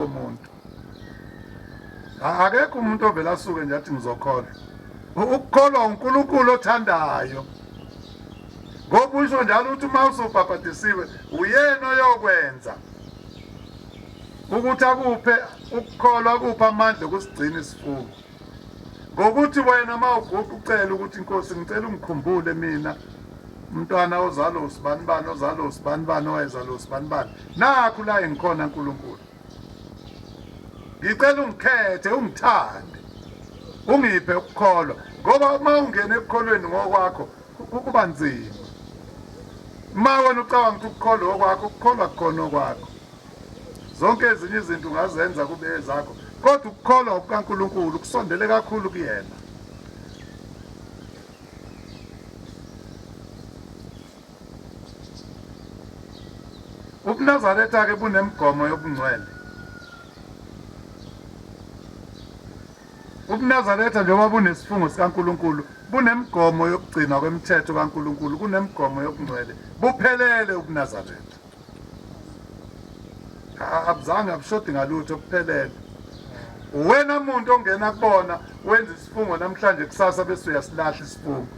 umuntu akekho umuntu ovela asuke nje athi ngizokholwa ukukholwa uNkulunkulu othandayo ngoba usho njalo ukuthi uma usubhabhadisiwe uyena oyokwenza ukuthi akuphe ukukholwa kupha amandla okusigcina isifungo ngokuthi wena uma uguqa ucela ukuthi inkosi ngicela ungikhumbule mina umntwana ozalo usibanibani ozalo usibanibani owayezalo usibanibani nakhu la engikhona nkulunkulu ngicela ungikhethe ungithande ungiphe ukukholwa ngoba uma ungena ekukholweni ngokwakho kuba nzima uma wena ucabanga ukuthi ukukholwa okwakho ukukholwa kukhona okwakho zonke ezinye izinto ungazenza kube ezakho kodwa ukukholwa kukaNkulunkulu kusondele kakhulu kuyena ubunazaretha ke bunemigomo yobungcwele ubunazaretha njengoba bunesifungo sikaNkulunkulu bunemigomo yokugcinwa kwemithetho kaNkulunkulu kunemigomo yobungcwele buphelele ubunazaretha abuzange abushodi ngalutho kuphelele uwena muntu ongena kubona wenza isifungo namhlanje kusasa bese uyasilahla isifungo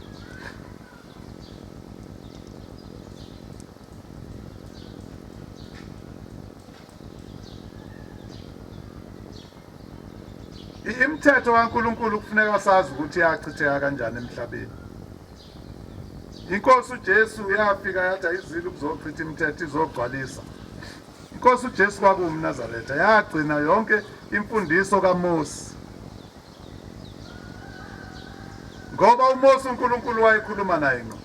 imithetho kaNkuluNkulu kufuneka sazi ukuthi yachitheka kanjani emhlabeni Inkosi uJesu yafika yatha izilo ukuzochitha imithetho izogcwalisa. Inkosi uJesu kwakuwumNazaretha yagcina yonke imfundiso kaMose. Ngoba uMose uNkulunkulu wayekhuluma naye ngqo.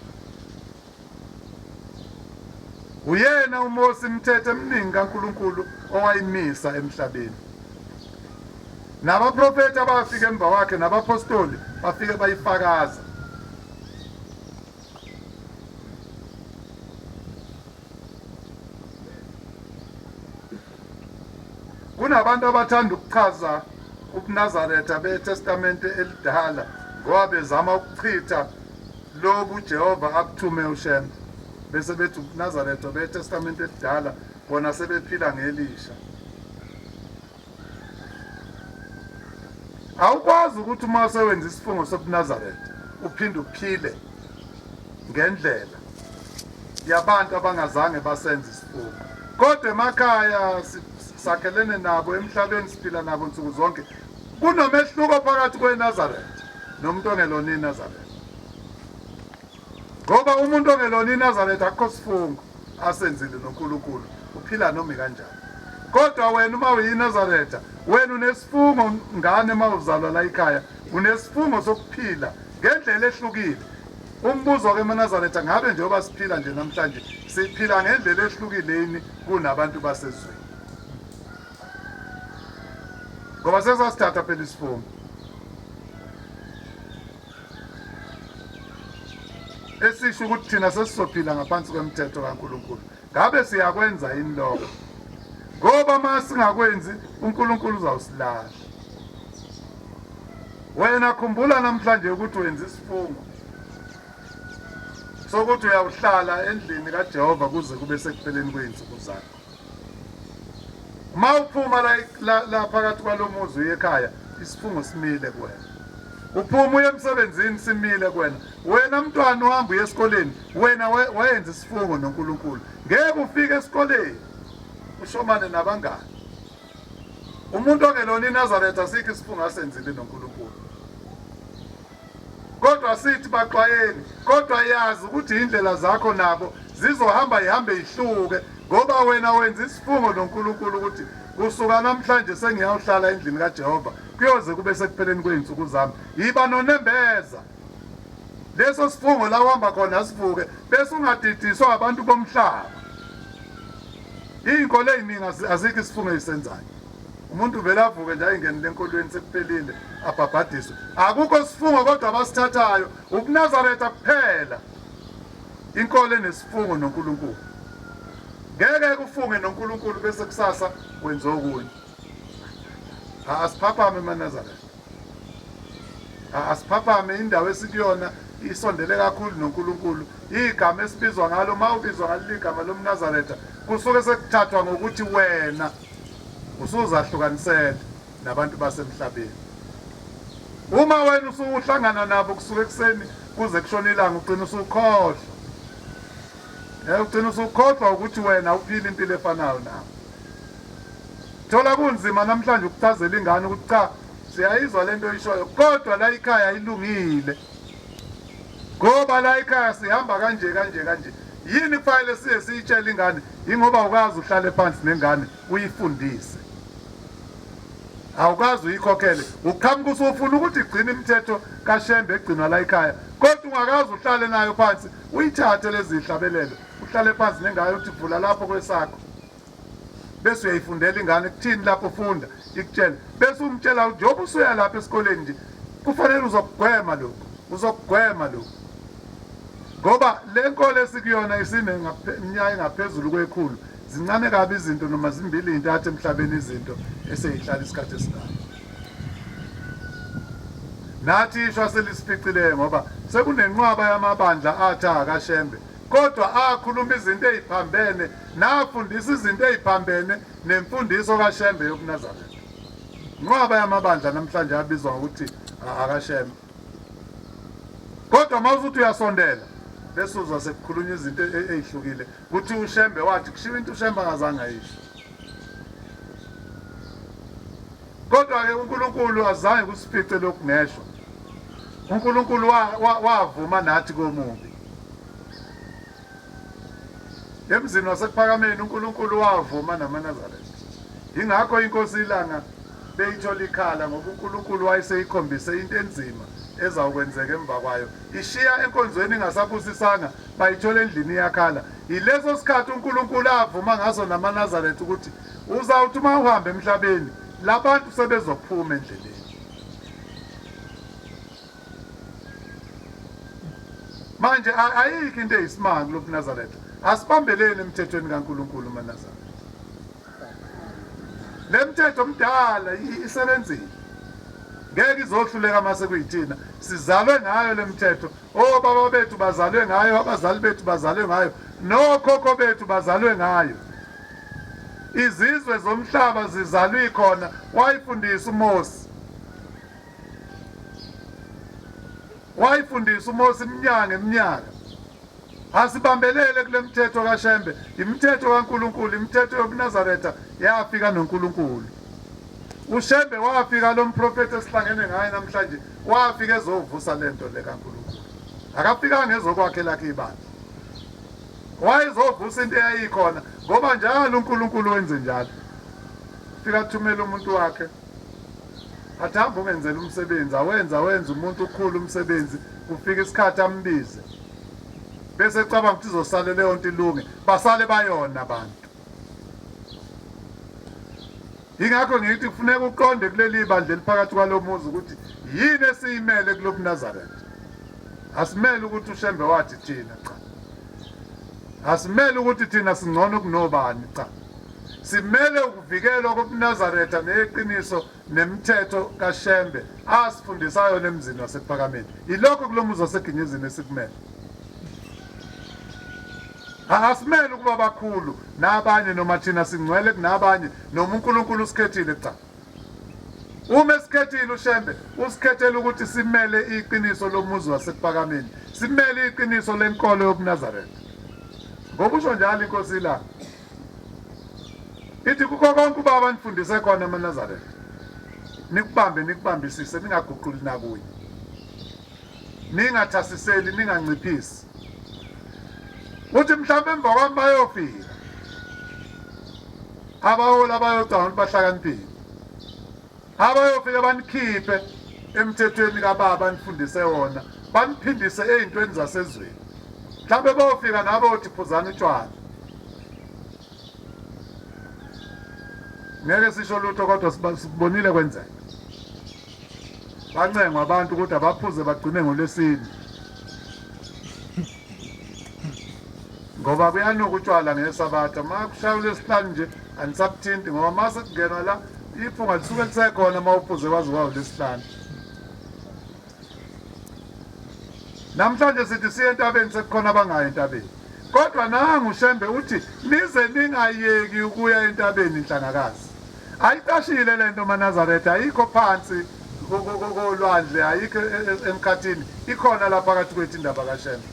Uyena uMose imithetho eminingi kaNkulunkulu owayimisa emhlabeni. Nabaprofethi abafika emva kwakhe nabaphostoli bafike bayifakaza. Kunabantu abathanda ukuchaza ubuNazaretha beTestamente elidala ngoba bezama ukuchitha lobu Jehova abuthume uShembe bese bethi ubuNazaretha beTestamente elidala bona sebephila ngelisha. awukwazi ukuthi uma usewenza isifungo sobunazaretha uphinde uphile ngendlela yabantu abangazange basenze isifungo kodwa emakhaya sakhelene nabo emhlabeni siphila nabo nsuku zonke kunomehluko phakathi kwenazaretha nomuntu ongelona inazaretha Ngoba umuntu ongelona iNazaretha akukho sifungo asenzile noNkulunkulu uphila noma kanjani. Kodwa wena uma uyiNazaretha wena unesifungo ngane uma uzalwa la ikhaya unesifungo sokuphila ngendlela ehlukile. Umbuzo-ke eManazaretha ngabe njengoba siphila nje namhlanje siphila ngendlela ehlukileni kunabantu basezweni. Ngoba sesasithatha phela isifungo. esisho ukuthi thina sesizophila ngaphansi kwemthetho kaNkulunkulu ngabe siyakwenza yini lokho ngoba uma singakwenzi uNkulunkulu uzawusilahla wena khumbula namhlanje ukuthi wenza isifungo sokuthi uyawuhlala endlini kaJehova kuze kube sekupheleni kwey'nsuku zakho Uma uphuma la la, la phakathi kwalomuzi uye ekhaya isifungo simile kuwena. Uphuma uye emsebenzini simile kuwena. Wena mntwana uhamba uye esikoleni wena we- wayenza isifungo noNkulunkulu. Ngeke ufike esikoleni ushomane nabangani. Umuntu ongelona iNazaretha sikho isifungo asenzile noNkulunkulu. Kodwa sithi baxwayeni, kodwa yazi ukuthi indlela zakho nabo zizohamba ihambe ihluke ngoba wena wenza isifungo noNkulunkulu ukuthi kusuka namhlanje sengiyawuhlala endlini kaJehova kuyoze kube sekupheleni kwey'nsuku zami yiba nonembeza leso sifungo la uhamba khona sivuke bese ungadidiswa abantu bomhlaba iy'nkolo ey'ningi azikho isifungo eyisenzayo umuntu vele avuke nje ayingenile enkolweni sekuphelile abhabhadiswe akukho sifungo kodwa abasithathayo ubunazaretha kuphela inkolo enesifungo nonkulunkulu ngeke kufunge nonkulunkulu bese kusasa wenza okunye asiphaphame emanazaretha asiphaphame indawo esikuyona isondele kakhulu noNkulunkulu igama esibizwa ngalo uma ubizwa ngaleli gama lomnazaretha kusuke sekuthathwa ngokuthi wena usuzahlukanisele nabantu basemhlabeni uma wena usuhlangana nabo kusuke ekuseni kuze kushona ilanga ugcina usukhohlwa um ugcina usukhohlwa ukuthi wena uphile impilo efanayo nabo Thola kunzima namhlanje ukuchazela ingane ukuthi cha siyayizwa lento oyishoyo kodwa la ikhaya ilungile ngoba la ikhaya sihamba kanje kanje kanje yini kufanele siye siyitshele ingane yingoba ukazi uhlale phansi nengane uyifundise awukwazi uyikhokhele uqhamuka usufuna ukuthi igcine imithetho kashembe egcinwa la ikhaya kodwa ungakazi uhlale nayo phansi uyithathe lezi hlabelelo uhlale phansi nengayo uthi vula lapho kwesakho bese uyayifundela ingane kuthini lapho ufunda ikutshela bese umtshela ukuthi njengoba usuya lapha esikoleni nje kufanele uzokugwema lokhu uzokugwema lokhu ngoba le nkolo esikuyona isineminyaka engaphezulu kwekhulu zincane kabi izinto noma zimbili intathu emhlabeni izinto eseyihlala isikhathi esingayo nathi ishwa selisificileyo ngoba sekunenqwaba yamabandla athi akashembe kodwa akhuluma izinto eziphambene nafundisa izinto eziphambene nemfundiso kaShembe yobuNazaretha. Inqwaba yamabandla namhlanje abizwa ngokuthi akaShembe. Kodwa mawuzuthi uyasondela bese uzwa sekukhulunywa izinto e-, e-, ezihlukile ukuthi uShembe wathi kushiwo into uShembe angazange ayisho. Kodwa ke uNkulunkulu azange kusifice lokhu ngeshwa. uNkulunkulu wavuma nathi komubi Emzini waseKuphakameni uNkulunkulu wavuma namaNazaretha. Yingakho iNkosi iLanga beyithola ikhala ngoba uNkulunkulu wayeseyikhombise into enzima ezawukwenzeka emva kwayo. Ishiya enkonzweni ingasabusisanga bayithola endlini iyakhala. Yileso sikhathi uNkulunkulu avuma ngaso namaNazaretha ukuthi uzawuthi uma uhamba emhlabeni labantu sebezophuma endleleni. Manje ayikho into eyisimanga kulobunazaretha. Asibambeleni emthethweni kaNkulunkulu manazaretha. Lemthetho omdala isebenzile. Ngeke izohluleka mase kuyithina. Sizalwe ngayo lemthetho. Oh baba bethu bazalwe ngayo, abazali bethu bazalwe ngayo, nokhokho bethu bazalwe ngayo. Izizwe zomhlaba zizalwe khona wayifundisa uMose. wayifundisa uMose iminyaka ngeminyaka asibambelele kule mthetho kaShembe imithetho kaNkuluNkulu imithetho yobuNazaretha yafika noNkuluNkulu uShembe wafika lo mprofethi esihlangene ngaye namhlanje wafika ezovusa le nto le kaNkuluNkulu akafikanga ezokwakhe lakhe ibandla wayezovusa into eyayikhona ngoba njalo uNkuluNkulu wenze njalo fika thumela umuntu wakhe Athi hamba ungenzela umsebenzi awenza wenza umuntu ukhulu umsebenzi kufika isikhathi ambize bese cabanga ukuthi izosale leyo nto ilunge basale bayona abantu yingakho ngithi kufuneka uqonde kuleli bandla eliphakathi kwalo muzi ukuthi yini esiyimele kulobu Nazareth asimele ukuthi ushembe wathi thina cha asimele ukuthi thina singcono kunobani cha Simele ukuvikelwa kobunazaretha neyeqiniso nemithetho kaShembe asifundisa yona emzini waseKuphakameni. Yilokho kulo muzi waseGinyuzini esikumele. Angasimele ukuba bakhulu nabanye noma thina singcwele kunabanye noma uNkulunkulu usikhethile cha. Uma esikhethile uShembe usikhethela ukuthi simele iqiniso lomuzi waseKupakameni, simele iqiniso lenkolo yobuNazaretha. Ngokusho njalo iNkosi ilanga Ithi kukho konke ubaba anifundise kona amaNazaretha nikubambe nikubambisise ningaguquli nakunye ningathasiseli ninganciphisi uthi mhlawumbe emva kwami bayofika abaholi abayocanga ukuthi bahlakaniphile abayofike banikhiphe emthethweni kababa anifundise wona baniphindise ey'ntweni zasezweni mhlawumbe bayofika nabo othi phuzani utshwala ngeke sisho lutho kodwa sibonile kwenzeka bancengwa abantu ukuthi abaphuze bagcine ngolwesini ngoba kuyanuka utshwala ngesabatha uma kushaya ulwesihlanu nje Anisakuthinti ngoba uma sekungenwa la iphunga lisuke lisekhona uma uphuze kwaze kwawulesihlanu. Namhlanje sithi siye entabeni sekukhona abangayi entabeni. Kodwa nangu Shembe uthi nize ningayeki ukuya entabeni inhlangakazi. Ayicashile lento maNazaretha ayikho phansi kolwandle ayikho e, e, emkhathini ikhona la phakathi kwethu indaba kaShembe.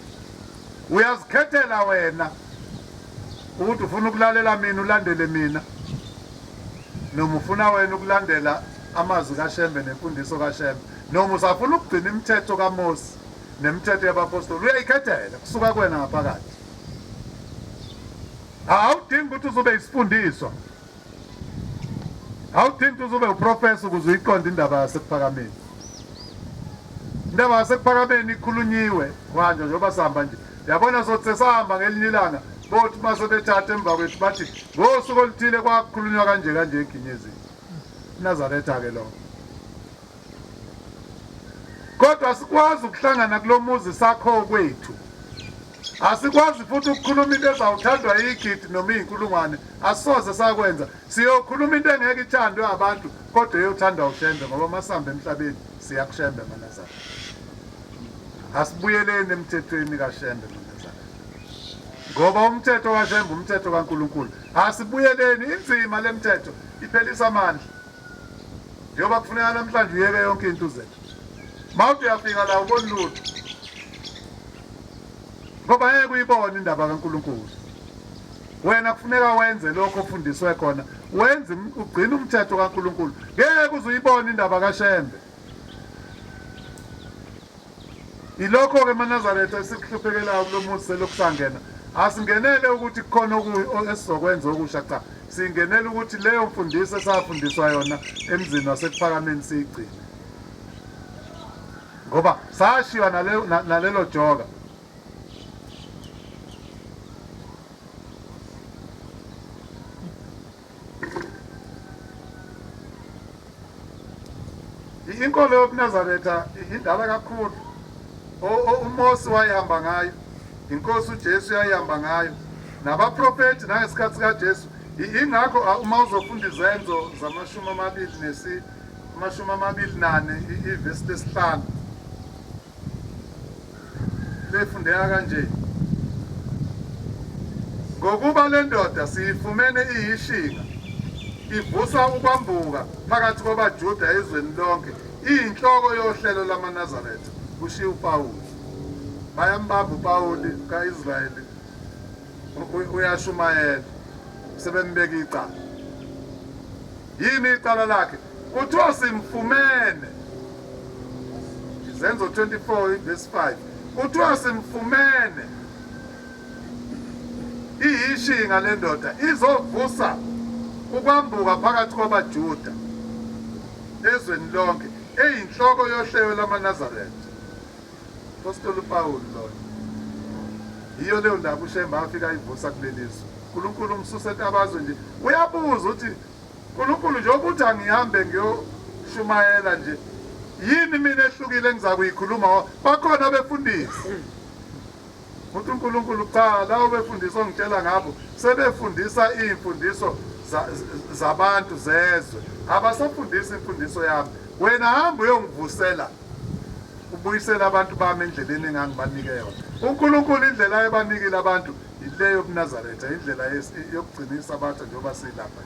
Uyazikhethela wena Ukuthi ufuna ukulalela mina ulandele mina noma ufuna wena ukulandela amazwi kaShembe nemfundiso kaShembe noma usafuna ukugcina imithetho kaMose nemithetho yabapostoli uyayikhethela kusuka kuwena ngaphakathi awudingi ukuthi uzobe isifundiswa awudingi uze ube uprofesa ukuze uyiqonde indaba yasekuphakameni indaba yasekuphakameni ikhulunyiwe manje njengoba sihamba nje yabona sothi sesahamba ngelinye ilanga bothi uma sebethatha emva kwethu bathi ngosuku oluthile kwakhulunywa kanje kanje eginyezini inazaretha-ke lokho kodwa sikwazi ukuhlangana kulo muzi sakho okwethu asikwazi futhi ukukhuluma into ezawuthandwa yigidi noma iy'nkulungwane asoze sakwenza siyokhuluma into engeke ithandwe abantu kodwa eyothandwa ushembe ngoba masihamba emhlabeni siyakushembe manazana asibuyeleni emthethweni kashembe manazana ngoba umthetho kashembe umthetho kankulunkulu asibuyeleni inzima le mthetho iphelisa amandla Njengoba kufuneka namhlanje uyeke yonke into uze. Mawuthi uyafika la ubona lutho. Ngoba yeke uyibone indaba kaNkulunkulu. Wena kufuneka wenze lokho ofundiswe khona. Wenze ugcina umthetho kaNkulunkulu. Ngeke uzuyibone indaba kaShembe. Yilokho-ke maNazaretha esikuhluphekelayo kulo muzi selokhu sangena. Asingenele ukuthi kukhona esizokwenza okusha cha, singenele ukuthi leyo mfundiso esafundiswa yona emzini wasekuphakameni siyigcine. Ngoba sashiywa nalelo joka. inkolo yobunazaretha indala kakhulu umosi wayihamba ngayo inkosi ujesu yayihamba ngayo nabaprofethi nangesikhathi sikajesu ingakho uma uzofunda izenzo zamashumi amabili nesi amashumi amabili nane ivesi lesihlanu lefundeka kanje, Ngokuba le ndoda siyifumene iyishinga, ivusa ukwambuka phakathi kwabaJuda ezweni lonke, iyinhloko yohlelo lwamaNazaretha, kushiye uPawulu. Bayambamba uPawuli ka-Israyeli uyashumayela sebembeka icala. Yini icala lakhe? Kuthiwa simfumene Izenzo 24 verse 5 kuthiwa simfumene iyishinga lendoda izovusa ukwambuka phakathi kwabaJuda ezweni lonke eyinhloko yohlelo lamaNazaretha Postoli uPawulu loyo. Yiyo leyo ndaba uShemba afika ayivusa kuleli zwe. uNkulunkulu umsusa etabazwe nje. Uyabuza uthi uNkulunkulu njengoba uthi angihambe ngiyoshumayela nje yini mina ehlukile engizakuyikhuluma bakhona befundisi Futhi uNkulunkulu kuqala labo befundisa ongitshela ngabo sebefundisa iy'mfundiso zabantu zezwe abasafundisi imfundiso yami wena hamba uyongivusela ubuyisela abantu bami endleleni engangibanike yona unkulunkulu indlela ayebanikile abantu yile yobunazaretha indlela yokugcina isabatha njengoba siyilapha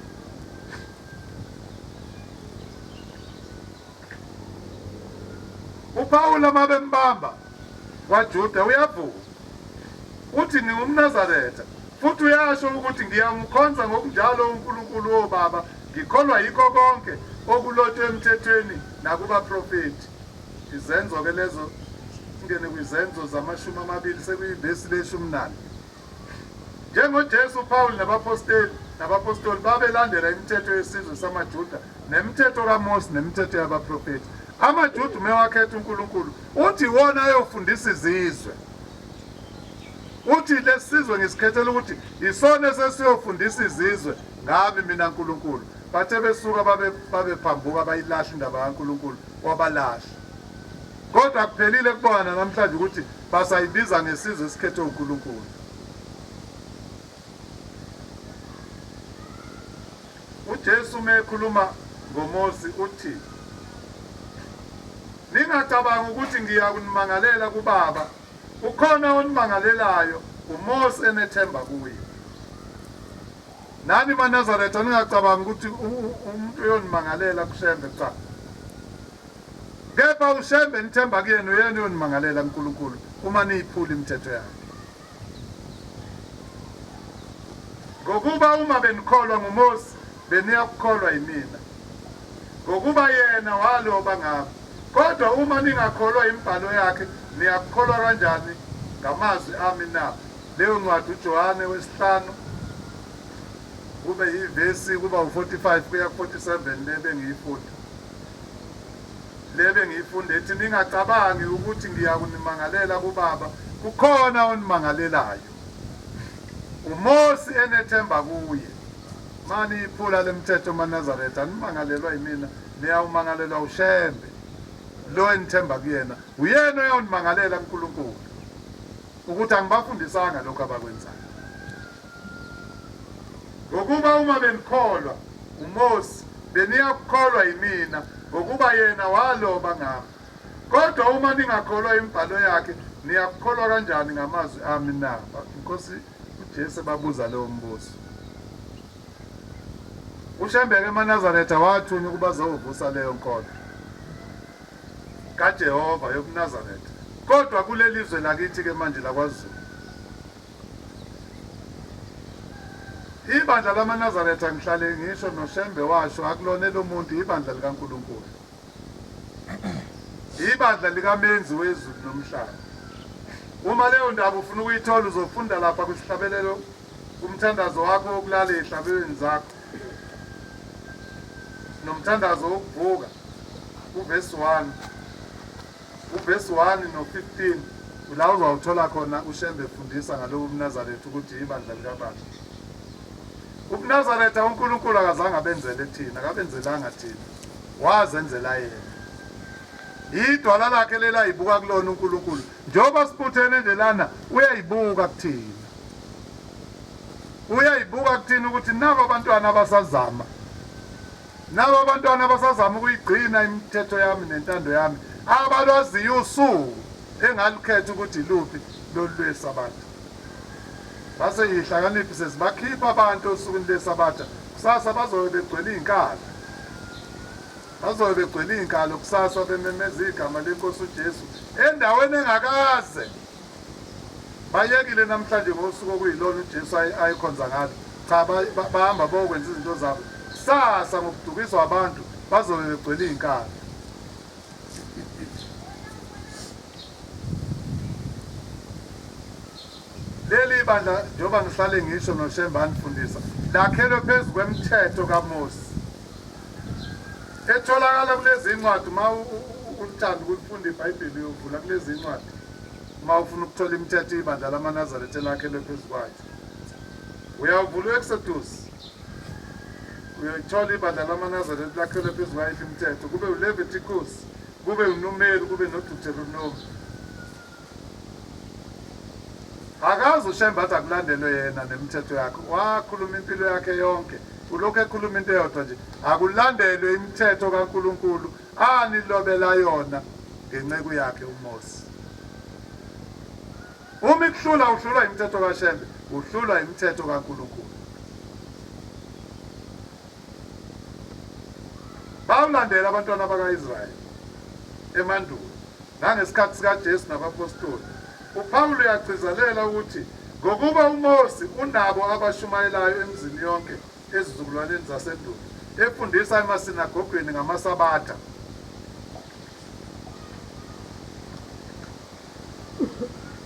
upawula uma bembamba KwaJuda uyavuma. Uthi, NingumNazaretha. Futhi uyasho ukuthi, Ngiyamkhonza ngokunjalo uNkulunkulu wobaba, ngikholwa yikho konke okulotshwe emthethweni nakubaprofethi. Izenzo-ke lezo, singene kwizenzo zamashumi amabili, sekuyivesi leshumi nane. NjengoJesu, uPawulu nabaposteli nabapostoli babelandela imithetho yesizwe samaJuda nemithetho kaMose nemithetho yabaprofethi. AmaJuda umewakhetha uNkulunkulu uthi iwona ayofundisa izizwe. Uthi lesizwe ngisikhethela ukuthi isona sesiyofundisa izizwe ngami mina Nkulunkulu. Bathe besuka babe babephambuka bayilahle indaba kaNkulunkulu wabalahla. Kodwa akuphelile kubona nanamhlanje ukuthi basayibiza ngesizwe esikhethwe uNkulunkulu. UJesu uma ekhuluma ngoMosi uthi, Ningacabanga ukuthi ngiya kunimangalela kuBaba, ukhona onimangalelayo uMosi enethemba kuye. Nani maNazaretha ningacabangi ukuthi umuntu uyonimangalela kuShembe cha. Kepha uShembe nithemba kuyena uyena uyonimangalela kuNkulunkulu uma niyiphula imithetho yakhe. Ngokuba uma benikholwa nguMose beniya kukholwa yimina. Ngokuba yena waloba ngami. Kodwa uma ningakholwa imibhalo yakhe niyakukholwa kanjani ngamazwi ami na? Leyo ncwadi uJohane wesihlanu kube yivesi kuba u-45 kuya ku-47 le bengiyifunda le bengiyifunda ethi ningacabangi ukuthi ngiya kunimangalela kubaba kukhona onimangalelayo umosi enethemba kuye mani iphula lemthetho manazaretha nimangalelwa yimina niyawumangalelwa ushembe lo enithemba kuyena uyena uyawunimangalela unkulunkulu ukuthi angibafundisanga lokho abakwenzayo ngokuba uma benikholwa uMose beniyakukholwa yimina ngokuba yena waloba ngami kodwa uma ningakholwa imibhalo yakhe niyakukholwa kanjani ngamazwi ami na inkosi uJesu babuza leyo mbuzo uShembeke eManazaretha wathunywa ukuba zovusa leyo nkolo kaJehova yobuNazaretha kodwa kulelizwe lakithi ke manje lakwaZulu ibandla lamaNazaretha ngihlale ngisho noShembe washo akulona elomuntu ibandla likaNkulunkulu ibandla likamenzi wezulu nomhlaba uma leyo ndaba ufuna ukuyithola uzofunda lapha kusihlabelelo Umthandazo wakho wokulala ezihlabelweni zakho nomthandazo wokuvuka uvesi 1 uvesi 1 no-15 la uzawuthola khona ushembe efundisa ngalowo mnazaretha ukuthi ibandla likabandla ubunazaretha unkulunkulu akazange abenzele thina akabenzelanga thina wazenzela yena yidwala lakhe lelayibuka kulona unkulunkulu Njengoba sibuthene nje lana uyayibuka kuthina. Uyayibuka kuthina ukuthi nabo abantwana abasazama. Nabo abantwana abasazama ukuyigcina imithetho yami nentando yami abalwaziyo usuku engalukhetha ukuthi iluphi lolu lwesabatha. Base yihlakaniphi sezibakhipha abantu osukwini lesabatha kusasa bazobe begcwele iy'nkala. Bazobe begcwele iy'nkalo kusasa bememeza igama lenkosi uJesu endaweni engakaze bayekile namhlanje ngosuku okuyilona uJesu ayekhonza ngalo cha bahamba bokwenza izinto zabo kusasa ngokudukiswa abantu bazobe begcwele iy'nkalo leli bandla njengoba ngihlale ngisho noshemba anifundisa lakhelwe phezu kwemthetho kamosi etholakala kulezi incwadi uma ulithanda ukulifunda ibhayibheli uyovula kulezi incwadi uma ufuna ukuthola imithetho ibandla lamanazaretha elakhelwe phezu kwakhe uyavula u-exodus uyayithola ibandla lamanazaretha lakhelwe phezu kwayiphi imithetho kube uleviticus kube unumeri kube nodeuteronomi Akazi uShembe athi akulandelwe yena nemithetho yakhe. Wakhuluma impilo yakhe yonke. Ulokhu ekhuluma into eyodwa nje. Akulandelwe imithetho kaNkulunkulu anilobela yona ngenceku yakhe uMose. Uma ikuhlula uhlulwa imithetho kaShembe, uhlulwa imithetho kaNkulunkulu. Bawulandela abantwana baka-Israyeli emandulo. Nangesikhathi sikaJesu nabapostoli, uPawulu uyagcizelela ukuthi ngokuba uMose unabo abashumayelayo emizini yonke ezizukulwaneni zasendulo, efundisa emasinagogweni ngamasabatha.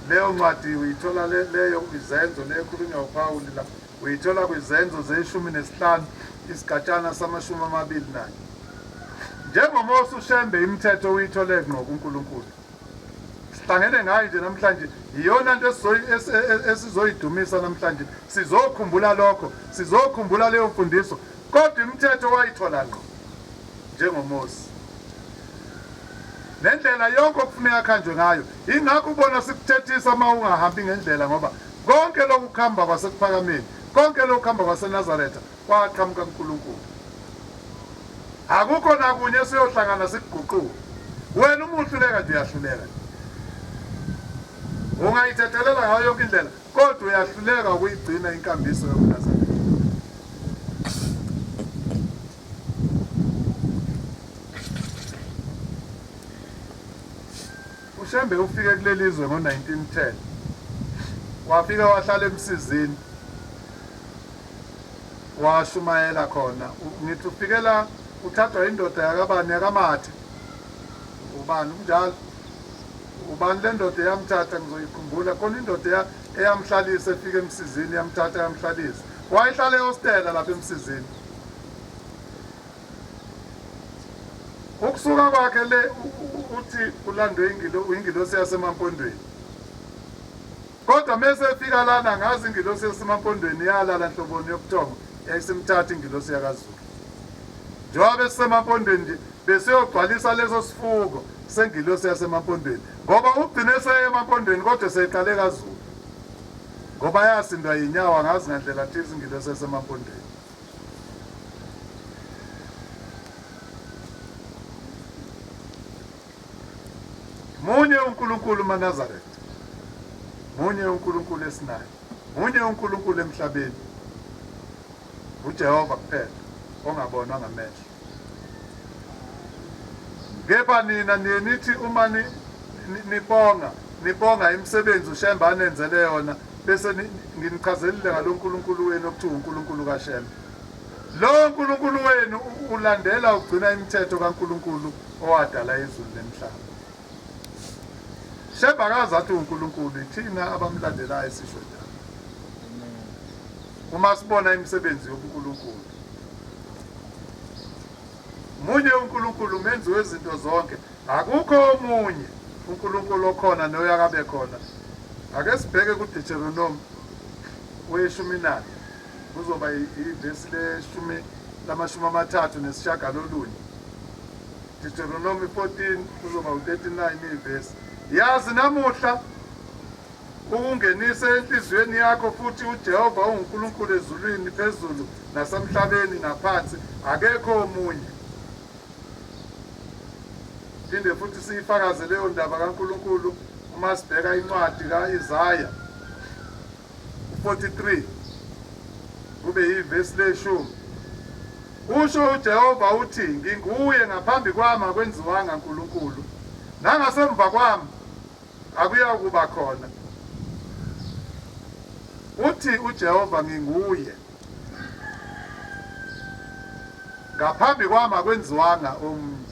Leyo ncwadi uyithola leyo izenzo leyo ekhulunywa uPawulu la. Uyithola kwiZenzo zeshumi nesihlanu isigatshana samashumi amabili nanye. NjengoMose uShembe imithetho uyithole ngqo kuNkulunkulu. Sihlangene ngayo nje namhlanje yiyona nto esizoyidumisa namhlanje. Sizokhumbula lokho, sizokhumbula leyo mfundiso kodwa imithetho wayithola ngqo njengoMose nendlela yonke okufuneka akhanjwe ngayo ingakho ubona sikuthethisa uma ungahambi ngendlela ngoba Konke lokhu kuhamba kwaseKuphakameni, konke lokhu kuhamba kwaseNazaretha kwaqhamuka kuNkulunkulu. Akukho nakunye siyohlangana sikuguquke. Wena uma uhluleka nje uyahluleka nje. Ungayithethelela ngayo yonke indlela kodwa uyahluleka ukuyigcina inkambiso yobuNazaretha. UShembe ufike kuleli zwe ngo-1910. Wafika wahlala eMsizini, washumayela khona. Ngithi ufike la uthathwa yindoda yakabani, yakaMathe. Ubani kunjalo? Ubani le ndoda eyamthatha? Ngizoyikhumbula. Khona indoda eyamhlalisa efika eMsizini, yamthatha yamhlalisa. Wayehlala ehostela lapha eMsizini. Ukusuka kwakhe le uthi ulandwe ingilosi yasemampondweni kodwa mese efika lana ngazi ingilosi yasemampondweni yalala nhloboni yobuthongo yayisimthatha ingilosi yakazulu njengoba besisemampondweni nje besiyogcwalisa leso sifuko sengilosi yasemampondweni ngoba ugcine seye emampondweni kodwa seyiqale kazulu ngoba yasindwa yinyawo angazi ngandlela thize ingilosi yasemampondweni munye uNkulunkulu umaNazaretha munye uNkulunkulu esinaye munye uNkulunkulu emhlabeni uJehova kuphela ongabonwa ngamehlo Kepha nina niye nithi uma ni, ni, nibonga nibonga imisebenzi uShembe anenzele yona bese ni, nginichazelile ngaloNkulunkulu wenu okuthiwa uNkulunkulu kaShembe. Lowo Nkulunkulu wenu ulandela ugcina imithetho kaNkulunkulu owadala izulu nemhlaba. Shembe akazi athi uNkulunkulu ithina abamlandelayo sisho njalo. Uma sibona imisebenzi yobuNkulunkulu Munye uNkulunkulu umenzi wezinto zonke. Akukho omunye uNkulunkulu okhona noyakabe khona. Ake sibheke kuDeuteronomi weshumi nane kuzoba ivesi leshumi lamashumi amathathu nesishagalolunye. Deuteronomy 14 kuzoba u-39 ivesi. Yazi namuhla Ukungenise enhliziyweni yakho futhi uJehova unguNkulunkulu ezulwini phezulu nasemhlabeni ngaphansi, akekho omunye. Phinde futhi siyifakaze leyo ndaba kaNkulunkulu uma sibheka incwadi ka-Isaya 43 kube yivesi leshumi. Usho uJehova uthi, nginguye ngaphambi kwami akwenziwanga Nkulunkulu, nangasemva kwami Akuyakuba khona. Uthi uJehova nginguye. Ngaphambi kwami akwenziwanga omunye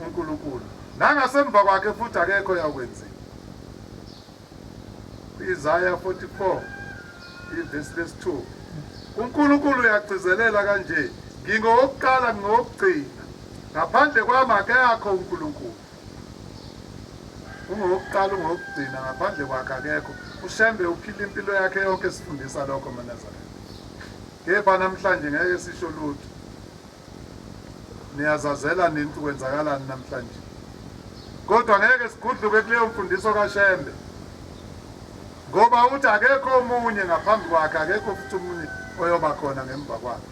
uNkulunkulu. Nangasemva kwakhe futhi akekho yakwenziwa. Isaya 44 ivesi lesithupha. UNkulunkulu uyagcizelela kanje, Ngingowokuqala ngingowokugcina. Ngaphandle kwami akekho uNkulunkulu. Ungowokuqala ungowokugcina ngaphandle kwakhe akekho uShembe uphile impilo yakhe yonke esifundisa lokho maNazaretha kepha namhlanje ngeke sisho lutho niyazazela nintu kwenzakalani namhlanje kodwa ngeke sigudluke kuleyo mfundiso kaShembe ngoba uthi akekho omunye ngaphambi kwakhe akekho futhi omunye oyoba khona ngemva kwakhe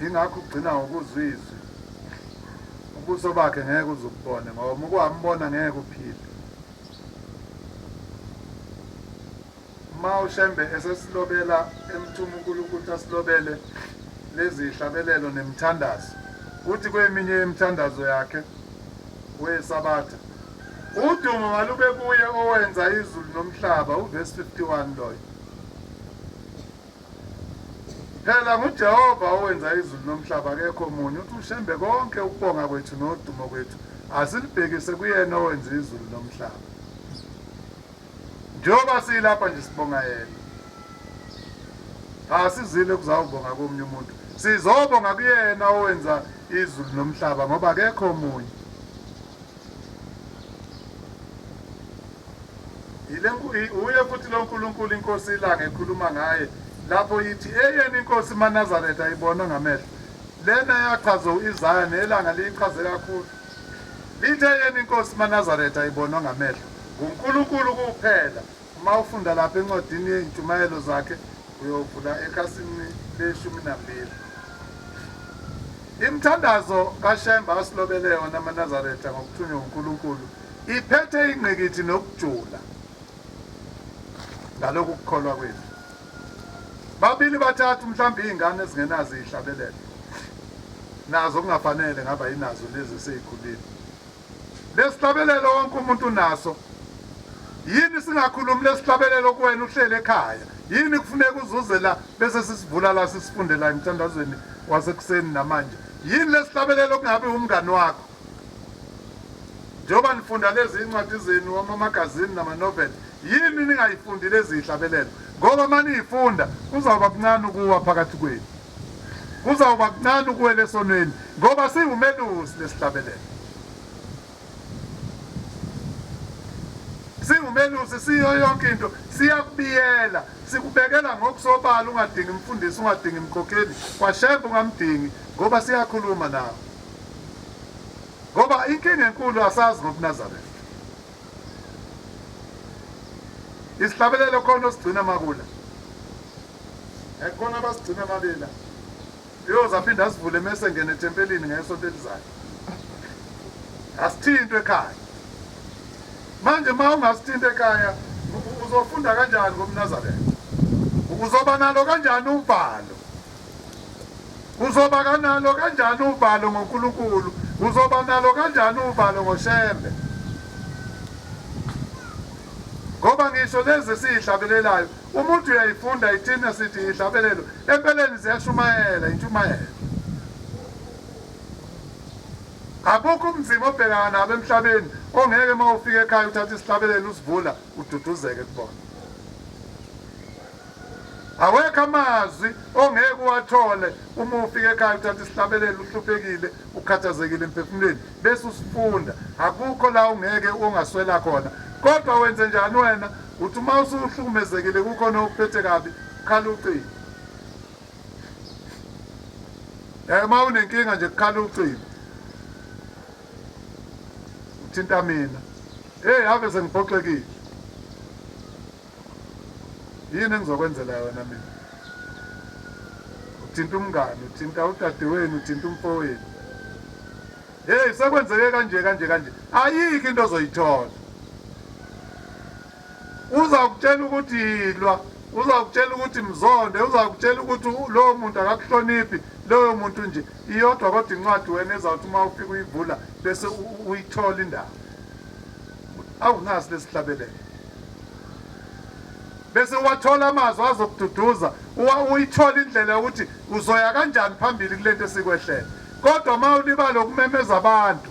Yingakho ugcina ngokuzwa izwi. Ubuso bakhe ngeke uze ububone ngoba uma ukuhambona ngeke uphile. Uma uShembe esesilobela emthuma uNkulunkulu asilobele lezi hlabelelo nemithandazo, uthi kweminye yemithandazo yakhe weSabatha, Udumo malube kuye owenza izulu nomhlaba, uvesi 51 loyo. Phela nguJehova owenza izulu nomhlaba akekho omunye uthi uShembe konke ukubonga kwethu nodumo kwethu asilibhekise kuyena owenza izulu nomhlaba njengoba silapha nje sibonga yena asizile kuzawubonga komunye umuntu sizobonga kuyena owenza izulu nomhlaba ngoba akekho omunye Wuye futhi lo Nkulunkulu inkosi ilanga ekhuluma ngaye lapho ithi eyeni inkosi manazaretha ayibonwe ngamehlo lena yachazwa u-isaya nelanga liyichaze kakhulu lithe eyeni inkosi manazaretha ayibonwe ngamehlo ngunkulunkulu kuphela Uma ufunda lapha encwadini yezintshumayelo zakhe uyovula ekhasini leshumi nambili. Imithandazo kaShemba asilobele yona amaNazaretha ngokuthunywa uNkulunkulu iphethe ingqikithi nokujula ngalokhu kukholwa kwethu. Babili bathathu mhlawumbe iy'ngane ezingenazo iyihlabelela nazo kungafanele ngaba yinazo lezi eseyikhulile Lesihlabelelo wonke umuntu unaso. Yini singakhulumi lesihlabelelo kuwena uhlele ekhaya? Yini kufuneka uzuze la bese sisivula la sisifunde la emthandazweni wasekuseni namanje? Yini lesihlabelelo kungabe umngani wakho? Njengoba nifunda lezi incwadi zenu amamagazini namanoveli, yini ningayifundi lezi hlabelelo? Ngoba uma niyifunda kuzawuba kuncane ukuwa phakathi kwenu. Kuzawuba kuncane ukuwela esonweni ngoba singumelusi lesihlabelelo. Singumelusi siyo yonke into siyakubiyela sikubekela ngokusobala ungadingi mfundisi ungadingi mkhokheli kwashembe ungamdingi ngoba siyakhuluma nawe. Ngoba inkinga enkulu asazi ngobuNazaretha. Isihlabelelo khona osigcina makula. Ekhona abasigcina mabela. Uyoze aphinde asivule mese ngene ethempelini ngesonto elizayo. Asithintwe ekhaya. Manje uma ungasithinta ekhaya uzofunda kanjani ngomNazaretha? Uzoba nalo kanjani uvalo? Uzoba kanalo kanjani uvalo ngoNkulunkulu? Uzoba nalo kanjani uvalo ngoShembe? Ngoba ngisho lezi siyihlabelelayo Umuntu uyayifunda ithini esithi yihlabelelo. Empeleni ziyashumayela intshumayelo. Abukho umzima obhekana nabo emhlabeni ongeke uma ufika ekhaya uthathe isihlabelelo usivula ududuzeke kubona. Awekho amazwi ongeke uwathole uma ufika ekhaya uthathe isihlabelelo uhluphekile ukhathazekile emphefumulweni bese usifunda akukho la ungeke ungaswela khona kodwa wenze njani wena uthi uma usuhlukumezekile kukhona okuphethe kabi khala ucingo eh uma unenkinga nje khala ucingo uthinta mina hey ave sengiphoxekile Yini engizokwenzela yona mina? Uthinta umngani, uthinta udadewenu, uthinta umfowenu. Hey, sekwenzeke kanje kanje kanje. Ayikho into ozoyithola. Uzakutshela ukuthi yilwa, uzakutshela ukuthi mzonde, uzakutshela ukuthi lowo muntu akakuhloniphi, loyo muntu nje. Iyodwa kodwa incwadi wena ezawuthi uma ufika uyivula bese uyithola indawo. Awunasi lesihlabelelo. bese uwathola amazwi azokududuza uyithola indlela yokuthi uzoya kanjani phambili kule nto esikwehlele kodwa uma ulibala ukumemeza abantu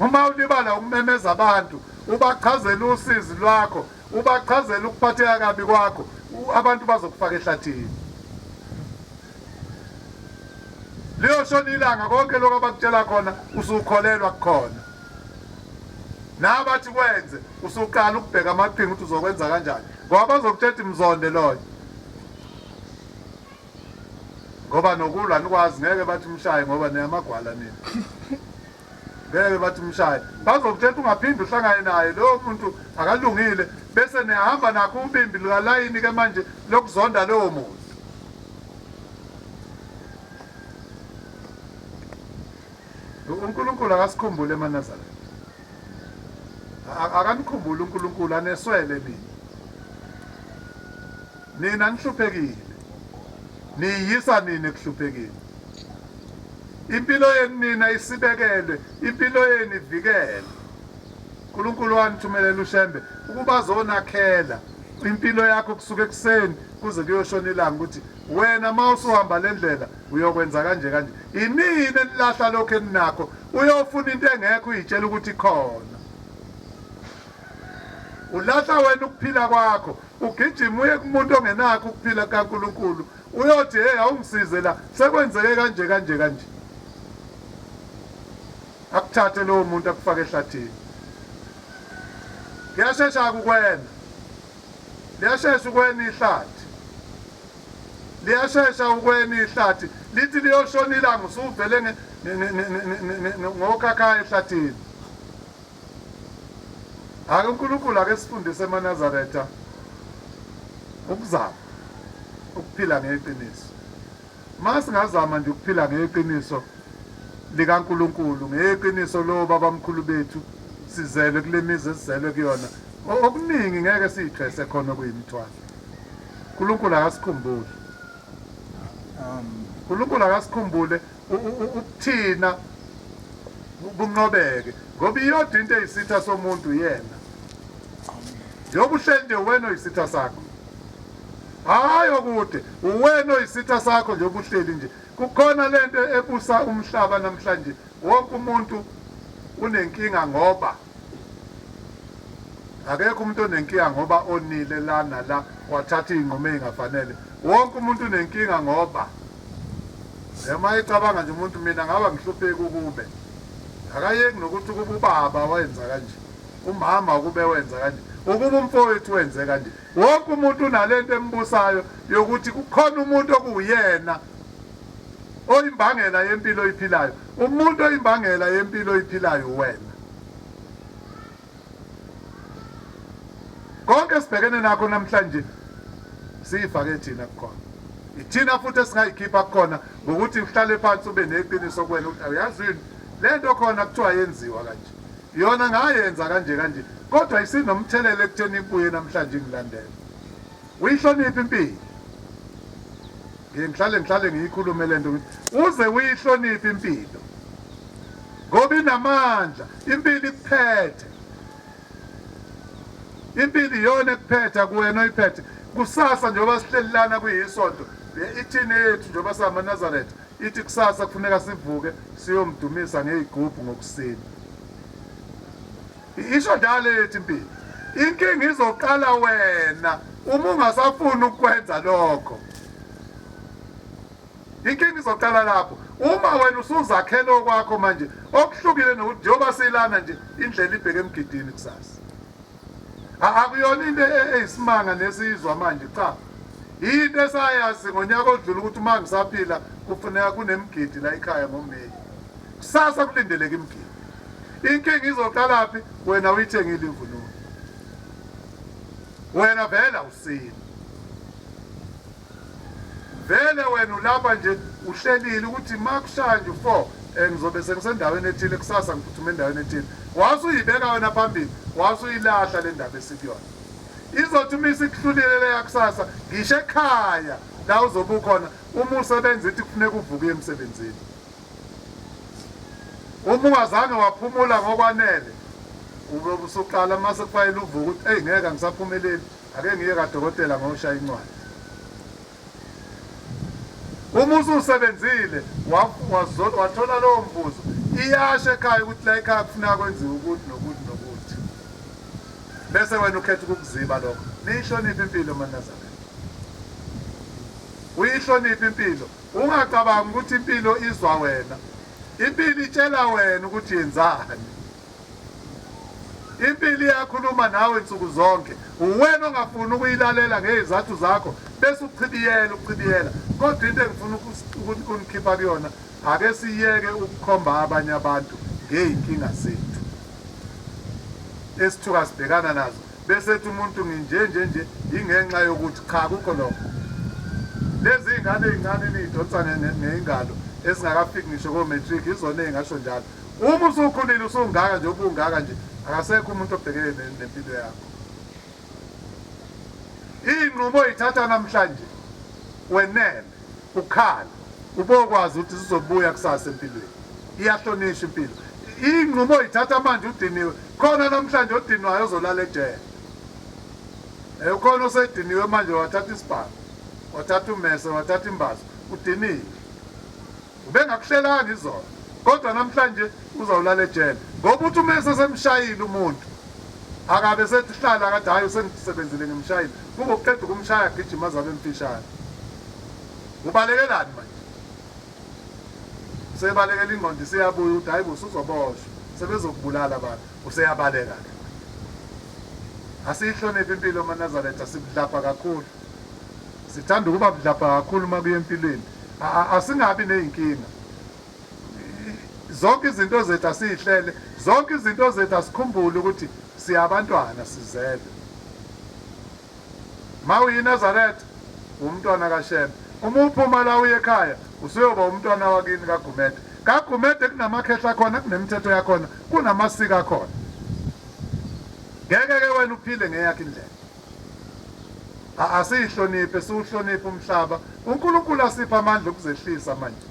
uma ulibala ukumemeza abantu ubachazela usizi lwakho ubachazela ukuphatheka kabi kwakho abantu bazokufaka ehlathini liyoshona ilanga konke lokho abakutshela khona usukholelwa kukhona nabathi kwenze usuqala ukubheka amaqhinga ukuthi uzokwenza kanjani ngoba bazokuthetha imzonde loyo ngoba nokulwa nikwazi ngeke bathi umshaye ngoba niyamagwala nini ngeke bathi umshaye bazokuthetha ungaphinde uhlangane naye lowo muntu akalungile bese niyahamba nakho ubimbi lukalayini ke manje lokuzonda lowo muntu UNkulunkulu akasikhumbuli emaNazaretha. Akanikhumbuli uNkulunkulu aneswele nina. Nina nihluphekile. Niyisa nina ekuhluphekile. Impilo yenu nina isibekelwe, impilo yenu ivikelwe. uNkulunkulu wanithumelela uShembe ukuba azonakhela impilo yakho kusuka ekuseni kuze kuyoshona ilanga ukuthi wena uma usuhamba le ndlela Uyokwenza kanje kanje. Inini enilahla lokho eninakho. Uyofuna into engekho uyitshela ukuthi khona. Ulahla wena ukuphila kwakho. Ugijima uye kumuntu ongenakho ukuphila kaNkulunkulu. Uyothi hey awungisize la sekwenzeke kanje kanje kanje. Akuthathe lowo muntu akufake ehlathini. Kuyashesha kukwena. Liyashesha ukwena ihlathi. liyashesha ukweni ihlathi lithi liyoshona ilanga usuvele ngokhakhayi ehlathini ake unkulunkulu ake sifundise emanazaretha ukuzama ukuphila ngeqiniso uma singazama nje ukuphila ngeqiniso likankulunkulu ngeqiniso lowo babamkhulu bethu sizelwe kule mizi esizelwe kuyona okuningi ngeke siyithwese khona okuyimithwalo uNkulunkulu akasikhumbuli uNkulunkulu akasikhumbule ukuthina kunqobeke ngoba iyodwa into eyisitha somuntu yena njengoba uhleli nje uwena oyisitha sakho hhayi okude uwena oyisitha sakho njengoba uhleli nje kukhona le nto ebusa umhlaba namhlanje wonke umuntu unenkinga ngoba Akekho umuntu onenkinga ngoba onile la nala wathatha iy'nqumo ey'ngafanele. Wonke umuntu unenkinga ngoba uma ecabanga nje umuntu mina ngaba ngihlupheki ukube akayeki nokuthi ukuba ubaba wenza kanje umama ukube wenza kanje ukuba umfowethu wenze kanje wonke umuntu unalento embusayo yokuthi kukhona umuntu okuwuyena Oyimbangela yempilo oyiphilayo. Umuntu oyimbangela yempilo oyiphilayo uwena. Konke esibhekene nakho namhlanje siyifake thina kukhona. Ithina futhi esingayikhipha kukhona ngokuthi uhlale phansi ube neqiniso kuwena ukuthi awuyazi yini le nto khona kuthiwa yenziwa kanje. Yona ngayenza kanje kanje kodwa isinomthelela ekutheni ibuye namhlanje ingilandela. Uyihloniphe impilo. Ngiye ngihlale ngihlale ngiyikhulume le nto uze uyihloniphe impilo ngoba inamandla impilo ikuphethe impilo iyona ekuphetha kuwena oyiphethe kusasa njengoba sihleli lana kuyisonto ithini yethu njengoba samaNazaretha ithi kusasa kufuneka sivuke siyomdumisa ngeyigubhu ngokusina Isho dale ethi impilo inkinga izoqala wena uma ungasafuni ukwenza lokho inkinga izoqala lapho uma wena usuzakhele okwakho manje okuhlukile nokuthi njengoba silana nje indlela ibheke emgidini kusasa akuyona into e-, e-, eyisimanga nesizwa manje cha yinto esayazi ngonyaka odlula ukuthi uma ngisaphila kufuneka kunemgidi la ekhaya ngomeyi kusasa kulindeleke imgidi Inkinga izoqalaphi? Wena uyithengile imvunulo, wena vele awusile vele wena ulapha nje uhlelile ukuthi makushaya nje u-four um ngizobe sengisendaweni ethile kusasa ngiphuthume endaweni ethile wase uyibeka wena phambili wase uyilahla le ndaba esikuyona izothi uma isikuhlulile leya kusasa ngisho ekhaya la uzobe ukhona uma usebenza ithi kufuneka uvuke emsebenzini Uma ungazange waphumula ngokwanele uyobe usuqala uma sekufanele uvuke ukuthi eyi ngeke angisaphumeleli ake ngiye kadokotela ngoshaya incwadi uma ususebenzile wathola lowo mvuzo iyasho ekhaya ukuthi la ekhaya kufuneka kwenziwe ukuthi nokuthi nokuthi bese wena ukhetha ukukuziba lokho niyihloniphe impilo manazana uyihloniphe impilo Ungacabangi ukuthi impilo izwa wena. Impilo itshela wena ukuthi yenzani. Impilo iyakhuluma nawe nsuku zonke. Uwena ongafuni ukuyilalela ngezathu zakho bese uchibiyela uchibiyela. Kodwa into engifuna ukunikhipha kuyona ake siyeke ukukhomba abanye abantu ngeyinkinga zethu esithuka sibhekana nazo. bese ethi umuntu nginje nje nje ingenxa yokuthi cha kukho lokho lezi ingane ezincane nidonsane nezingalo esingakafiki ngisho ko matric izona engasho njalo uma usukhulile usungaka nje ubungaka nje akasekho umuntu obhekene nempilo yakho inqubo ithatha namhlanje wenene Ukhala ubokwazi ukuthi sizobuya kusasa empilweni. Iyahlonishwa impilo. Iy'nqumo yithatha manje udiniwe. Khona namhlanje odinwayo ozolala ejele. Eh, ukhona osediniwe manje wathatha isibhamu, wathatha umese, wathatha imbazo, udiniwe. Ubengakuhlelanga izolo. Kodwa namhlanje uzawulala ejele. Ngoba uthi umese semshayile umuntu. Akabe sethi hlala kade hayi usengisebenzile ngimshayile. Kube uqeda ukumshaya gijima zabe mfishane. Ubalekelani manje? Usebalekela ingqondo isiyabuya uthi hayibo usuzoboshwa sebezokubulala abantu useyabaleka ke. Asiyihloniphi impilo maNazaretha sibudlapha kakhulu. Sithanda ukuba budlapha kakhulu uma kuye empilweni. Asingabi nezinkinga. Zonke izinto zethu asiyihlele, zonke izinto zethu asikhumbule ukuthi siyabantwana sizelwe. Ma uyiNazaretha, uwumntwana kaShembe. Uma uphuma la uye ekhaya, usuyoba umntwana wakini kaGumede. KaGumede kunamakhehla akhona, kunemithetho yakhona, kunamasiko akhona. Ngeke-ke wena uphile ngeyakho indlela. A- Asiyihloniphe, siwuhloniphe umhlaba. UNkulunkulu asiphe amandla okuzehlisa manje.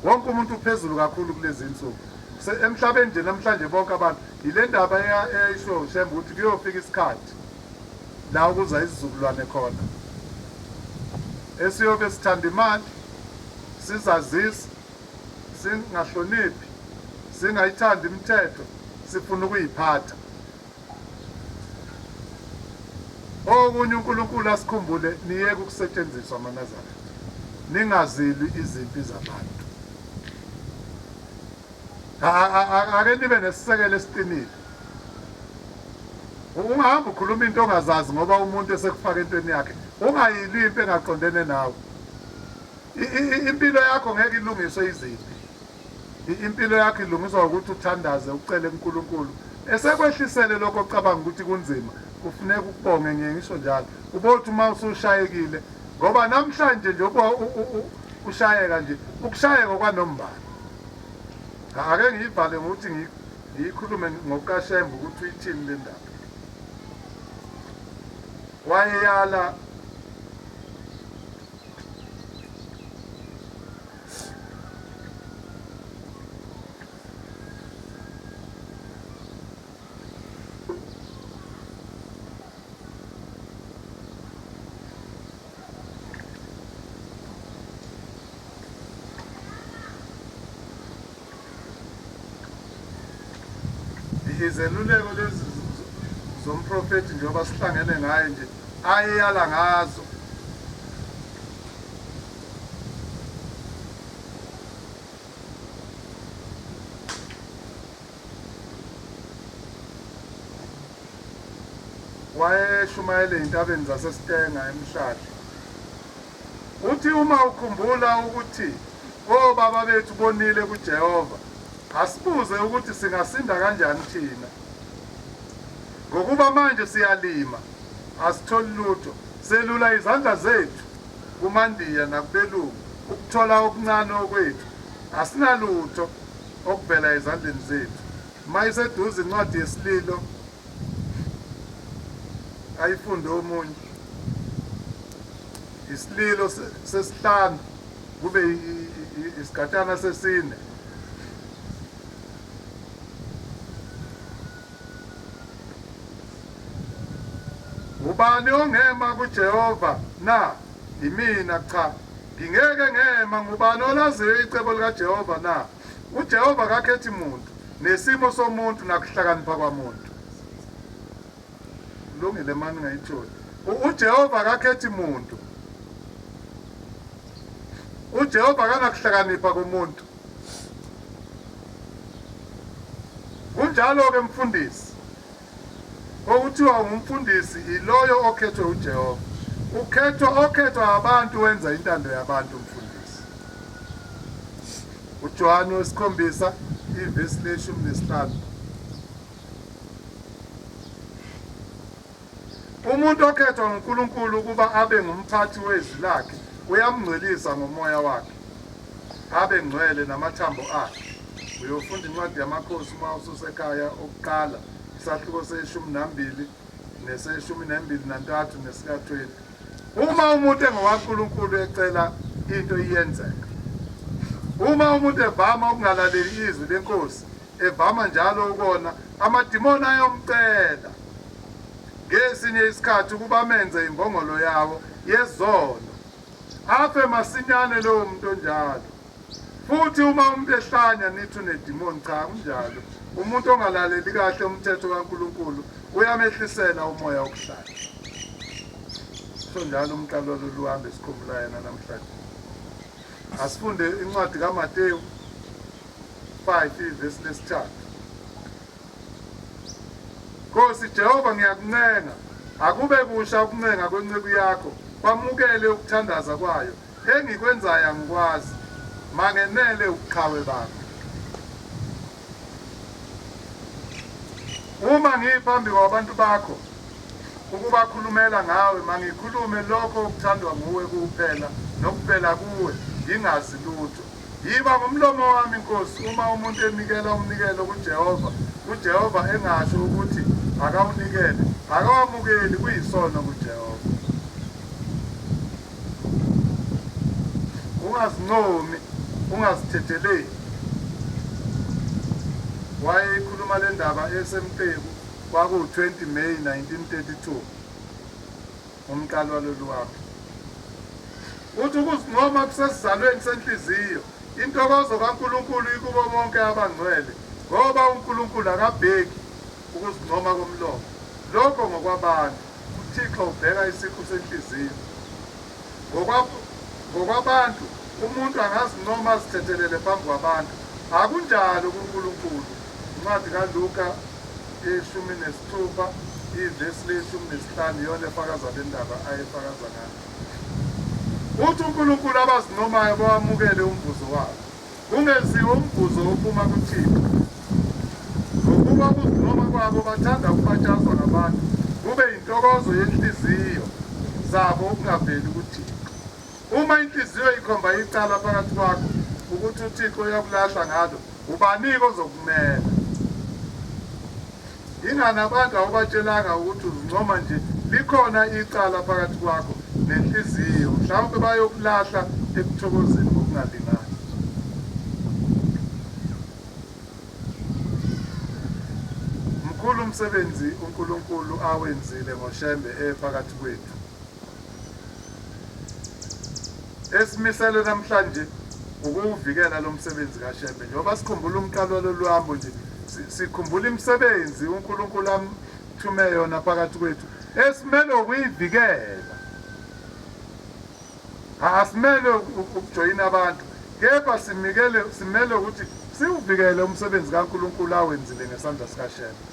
Wonke umuntu uphezulu kakhulu kulezi nsuku. Se- Emhlabeni nje namhlanje bonke abantu, yile ndaba eya- eyayishiwo uShembe ukuthi kuyofika isikhathi. la okuza izizukulwane khona esiyobe sithanda imali sizazisa singahloniphi singayithandi imithetho sifuna ukuyiphatha okunye uNkulunkulu asikhumbule niyeke ukusetshenziswa amanazareth ningazilwi izimpi zabantu ake nibe nesisekelo esiqinile ungahamba ukhuluma into ongazazi ngoba umuntu esekufaka entweni yakhe ungayili into engaqondene nawe impilo yakho ngeke ilungiswe iziphi impilo yakho ilungiswa ukuthi uthandaze ucele kuNkulunkulu esekwehlisele lokho ocabanga ukuthi kunzima kufuneka ukubonge ngiye ngisho njalo ubothi uma usushayekile ngoba namhlanje nje ushayeka nje ukushayeka kwanombala Ake ngiyivale ngokuthi ngiyikhulume ngokukaShembe ukuthi uyithini le ndaba. Wayeyala izeluleko lezi zomprofethi njengoba sihlangene ngaye nje ayeyala ngazo wayeshumayela ezintabeni zaseStenga eMhlahla. Uthi uma ukhumbula ukuthi obaba bethu bonile kuJehova, asibuze ukuthi singasinda kanjani thina. Ngokuba manje siyalima, asitholi lutho, selula izandla zethu kumandiya nakubelungu ukuthola okuncane okwethu, asinalutho. okuvela ezandleni zethu. Uma iseduze incwadi yesililo, ayifunde omunye. Isililo sesihlanu kube isigatshana sesine. Ubani ongema kuJehova na? Yimina, cha, ngingeke ngema. Ngubani olaziyo icebo likaJehova na? UJehova akakhethi muntu, nesimo somuntu, nakuhlakanipha kwamuntu. Kulungile, mani ngayitholi. U- UJehova akakhethi muntu. UJehova akanakuhlakanipha komuntu. Kunjalo-ke, mfundisi. Okuthiwa ungumfundisi iloyo okhethwe uJehova. Ukhethwa okhethwa abantu wenza intando yabantu umfundisi. UJohane wesikhombisa ivesi leshumi nesihlanu. Umuntu okhethwa nguNkulunkulu ukuba abe ngumphathi wezwi lakhe uyamngcwelisa ngomoya wakhe. Abe ngcwele namathambo akhe. Uyofunda incwadi yamakhosi uma ususekhaya okuqala isahluko seshumi nambili neseshumi nembili nantathu nesika 20. Uma umuntu engowaNkulunkulu ecela into iyenzeka. Uma umuntu evama ukungalaleli izwi lenkosi evama njalo ukona amadimoni ayomcela ngesinye isikhathi ukuba menze imbongolo yawo yezono Afe masinyane lowo muntu onjalo. Futhi uma umuntu ehlanya nithi unedimoni cha kunjalo. Umuntu ongalaleli kahle umthetho kaNkulunkulu uyamehlisela umoya wokuhlanya. So njalo umqalo lolu hambe sikhumbula yena namhlanje. Asifunde incwadi kaMateyu 5 ivesi lesithathu. Nkosi Jehova, ngiyakuncenga, akube kusha ukuncenga kwenceku yakho, kwamukele ukuthandaza kwayo. Engikwenzayo angikwazi, mangenele ubuqhawe bakho. Uma ngiphambi kwabantu bakho ukubakhulumela ngawe, mangikhulume lokho okuthandwa nguwe kuphela, nokuvela kuwe, ngingazi lutho. Yiba ngumlomo wami, Nkosi, uma umuntu enikela umnikelo kuJehova, uJehova engasho ukuthi akawunikele, akawamukeli, kuyisono kuJehova. Ungazincomi, ungazithetheleli. Wayeyikhuluma le ndaba eseMteku, kwakuwu-20 May 1932. Umqali walolu wami uthi ukuzincoma kusesizalweni senhliziyo. Intokozo kaNkulunkulu ikubo bonke abangcwele, ngoba uNkulunkulu akabheki ukuzincoma komlomo. Lokho ngokwabantu. UThixo ubheka isiqu senhliziyo. Ngokwa, ngokwabantu, umuntu angazincoma azithethelele phambi kwabantu. Akunjalo kuNkulunkulu. Incwadi kaLuka yeshumi nesithupha ivesi leshumi nesihlanu iyona efakaza le ndaba ayefakaza ngayo. Uthi uNkulunkulu abazincomayo bawamukele umvuzo wabo, kungeziwe umvuzo wophuma kuThixo. Ngokuba ukuzincoma kwabo bathanda ukubatshazwa ngabantu, kube yintokozo yenhliziyo zabo ukungaveli kuThixo. Uma inhliziyo ikhomba icala phakathi kwakho ukuthi uThixo uyakulahla ngalo, ubanike ozokumela? Yingani abantu awubatshelanga ukuthi uzincoma nje likhona icala phakathi kwakho nenhliziyo, mhlawumbe bayokulahla ekuthokozeni ngokungalingani. Mkhulu umsebenzi uNkulunkulu awenzile ngoShembe ephakathi kwethu. Esimisele namhlanje ukuwuvikela lo msebenzi kaShembe njengoba sikhumbula umqalo walolu hambo nje sikhumbula imisebenzi uNkulunkulu amthume yona phakathi kwethu esimelwe ukuyivikela asimelwe ukujoyina abantu kepha simikele simele ukuthi siwuvikele umsebenzi kaNkulunkulu awenzile ngesandla sikaShembe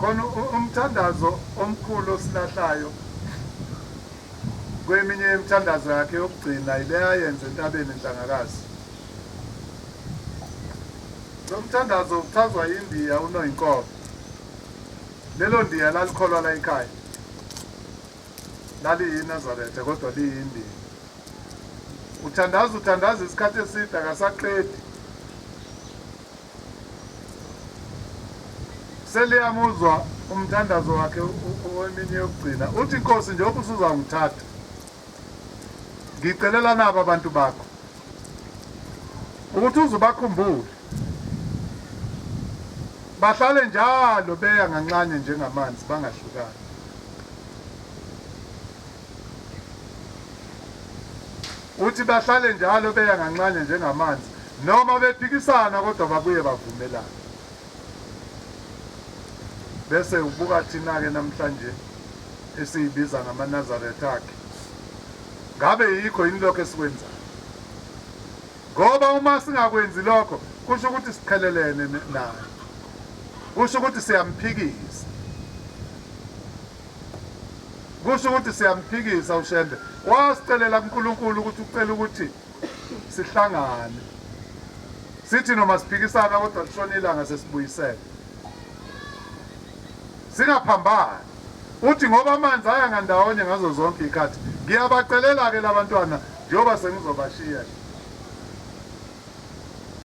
khona umthandazo omkhulu osilahlayo kweminye yemithandazo yakhe yokugcina yile ayenze entabeni enhlangakazi lo mthandazo uchazwa yindiya unoyinkobe lelo ndiya lalikholwa la ekhaya laliyinazaretha kodwa liyindiya Uthandaza uthandaza isikhathi eside akasaqedi. Seliyamuzwa umthandazo wakhe oweminye yokugcina. Uthi Nkosi njengoba usuzangithatha. Ngicelela nabo abantu bakho. Ukuthi uzubakhumbule. Bahlale njalo beya nganxanye njengamanzi bangahlukani. Uthi bahlale njalo beya nganxanye njengamanzi noma bephikisana kodwa babuye bavumelane. Bese ubuka thina-ke namhlanje esiyibiza ngamaNazaretha akhe. Ngabe yikho yini lokho esikwenzayo? Ngoba uma singakwenzi lokho kusho ukuthi siqhelelene naye. Kusho ukuthi siyamphikisa. Kusho ukuthi siyamphikisa uShembe. Wasicelela kuNkulunkulu ukuthi ucela ukuthi sihlangane. Sithi noma siphikisana kodwa lishona ilanga sesibuyisele. Singaphambani. Uthi ngoba amanzi aya ngandawonye ngazo zonke ikhathi. Ngiyabacelela ke labantwana njengoba sengizobashiya.